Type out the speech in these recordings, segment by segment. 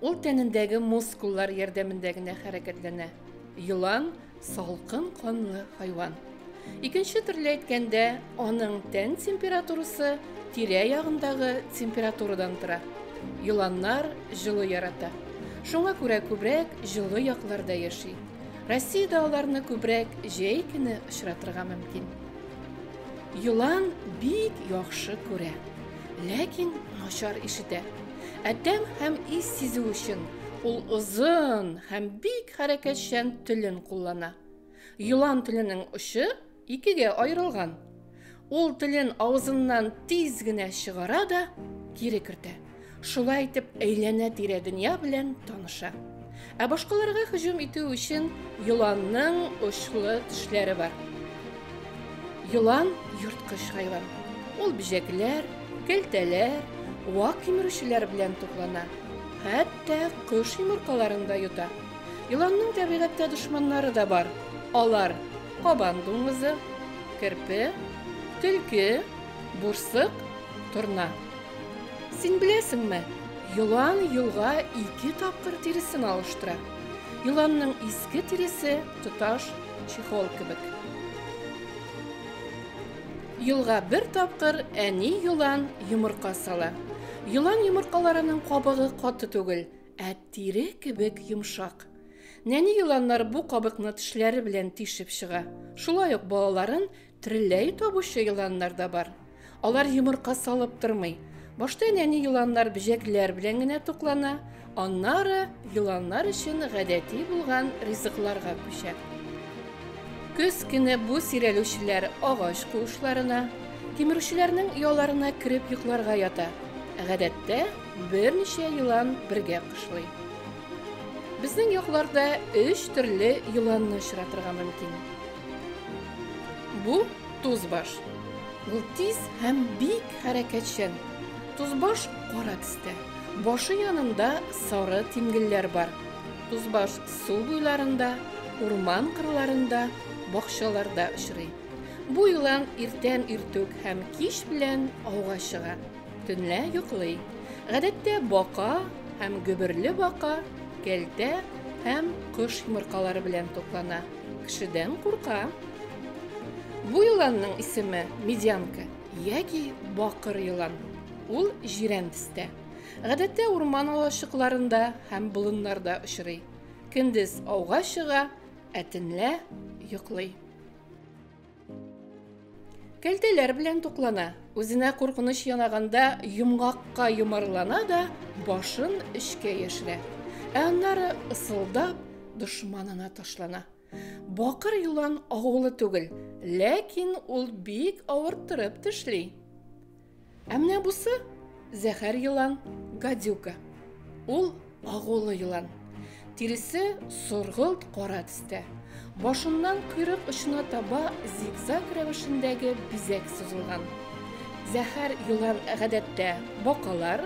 Ул тәнендәге мускуллар ярдәмендә генә хәрәкәтләнә. Елан, салкын канлы хайван. Икенче төрле әйткәндә, аның тән температурасы тирә ягындагы температурадан тора. Еланнар җылы ярата. Шуңа күрә күбрәк җылы якларда яши. Россиядә аларны күбрәк җәй көне очратырга мөмкин. Елан бик яхшы күрә, ләкин начар ишетә. Ә тәм һәм ис сизү өчен ул озын һәм бик хәрәкәтчән телен куллана. Елан теленең очы икегә аерылган. Ул телен авызыннан тиз генә чыгара да кире кертә. Шулай итеп әйләнә-тирә дөнья белән таныша. Ә башкаларга һөҗүм итү өчен еланның очлы тешләре бар. Елан йорткыч хайван. Ул бөҗәкләр, кәлтәләр, вак кимерүчеләр белән туклана. Хәтта кош йомыркаларын да йота. Еланның табигатьтә дошманнары да бар. Алар кабан дуңгызы, керпе, төлке, бурсык, торна. Син беләсеңме, елан елга ике тапкыр тиресен алыштыра. Еланның иске тиресе тоташ чехол кебек. Елга бер тапкыр әни елан йомырка сала. Елан йомыркаларының кабыгы каты түгел, ә тире кебек йомшак. Нәни еланнар бу кабыкны тешләре белән тишеп чыга. Шулай ук балаларын Трелләй табучы еланнар да бар. Алар йомырка салып тормый. Башта нәни еланнар бөҗәкләр белән генә туклана, аннары еланнар өчен гадәти булган ризыкларга күчә. Көз көне бу сирәлүчеләр агач куышларына, тимерүчеләрнең ояларына кереп йокларга ята. Гадәттә, берничә елан бергә кышлый. Безнең якларда өч төрле еланны очратырга мөмкин. Бу тузбаш. Ул тиз һәм бик хәрәкәтчән. Тузбаш кара төстә. Башы янында сары тимгелләр бар. Тузбаш су буйларында, урман кырларында, бакчаларда очрый. Бу елан иртән иртүк һәм кич белән ауга чыга. Төнлә йоклый. Гадәттә бака һәм гөберле бака кәлтә һәм кош йомыркалары белән туклана. Кешедән курка. Бу еланның исеме медянка яки бакыр елан. Ул җирән төстә. Гадәттә урман алачыкларында һәм болыннарда очрый. Көндез ауга чыга, ә төнлә йоклый. Кәлтәләр белән туклана. Үзенә куркыныч янаганда йомгакка йомарлана да башын эчкә яшерә. Ә аннары ысылдап дошманына ташлана. Бакыр юлан агулы түгел, ләкин ул бик авырттырып тешли. Ә менә бусы зәһәр елан, гадюка. Ул агулы елан. Тиресе соргылт кара төстә. Башыннан койрык очына таба зигзаг рәвешендәге бизәк сузылган. Зәһәр елан гадәттә бакалар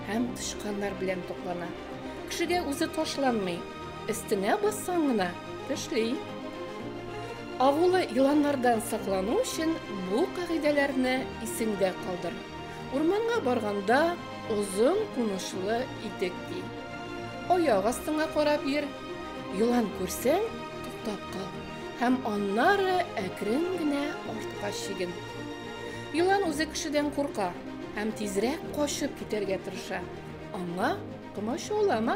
һәм тычканнар белән туклана. Кешегә үзе ташланмый, өстенә бассаң гына тешли. Агулы еланнардан саклану өчен бу кагыйдәләрне исеңдә калдыр. Урманга барганда озын кунычлы итек ки. Аяк астыңа карап йөр. Елан күрсәң, туктап кал һәм аннары әкрен генә артка чиген. Елан үзе кешедән курка һәм тизрәк качып китәргә тырыша. Аңа комачаулама.